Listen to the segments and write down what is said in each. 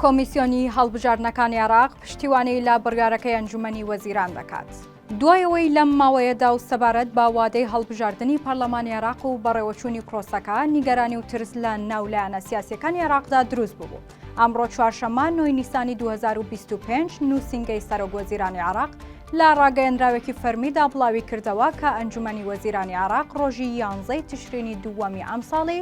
کۆمیسیۆنی هەڵبژاردنەکانی عێراق پشتیوانی لە بڕیارەکەی ئەنجومەنی وەزیران دەکات. دوای ئەوەی لەم ماوەیەدا و سەبارەت بە وادەی هەڵبژاردنی پەرلەمانی عێراق و بەڕێوەچوونی پرۆسەکە نیگەرانی و ترس لە ناو لایەنە سیاسییەکانی عێراقدا دروست ببوو، ئەمڕۆ چوارشەممە نۆی نیسانی دوو هەزار و بیست و پێنج نووسینگەی سەرۆک وەزیرانی عێراق لە ڕاگەیەندراوێکی فەرمیدا بڵاویکردەوە کە ئەنجومەنی وەزیرانی عێراق ڕۆژی یانزەی تشرینی دووەمی ئەمساڵی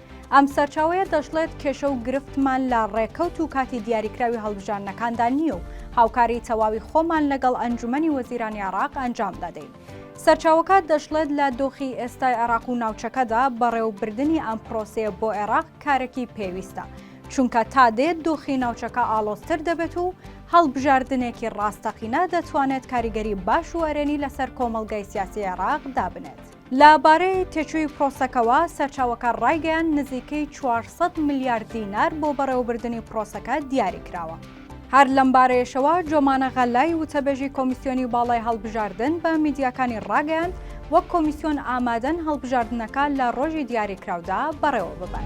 ئەم سەرچاوەیە دەشڵێت، کێشە و گرفتمان لە ڕێکەوت و کاتی دیاریکراوی هەڵبژاردنەکاندا نییە و هاوکاری تەواوی خۆمان لەگەڵ ئەنجومەنی وەزیرانی عێراق ئەنجام دەدەین. سەرچاوەکە دەشڵێت، لە دۆخی ئێستای عێراق و ناوچەکەدا بەڕێوەبردنی ئەم پرۆسەیە بۆ عێراق کارێکی پێویستە، چونکە تا دێت دۆخی ناوچەکە ئاڵۆزتر دەبێت و هەڵبژاردنێکی ڕاستەقینە دەتوانێت کاریگەری باش و ئەرێنی لەسەر کۆمەڵگای سیاسی عێراق دابنێت. لە بارەی تێچووی پرۆسەکەوە، سەرچاوەکە ڕایگەیاند نزیکەی چوار سەد ملیار دینار بۆ بەڕێوەبردنی پرۆسەکە دیاری کراوە. هەر لەم بارەیەشەوە، جۆمانە غەلای وتەبێژی کۆمیسیۆنی باڵای هەڵبژاردن بە میدیاکانی ڕاگەیاند، وەک کۆمیسیۆن ئامادەن هەڵبژاردنەکە لە ڕۆژی دیاریکراودا بەڕێوە ببەن.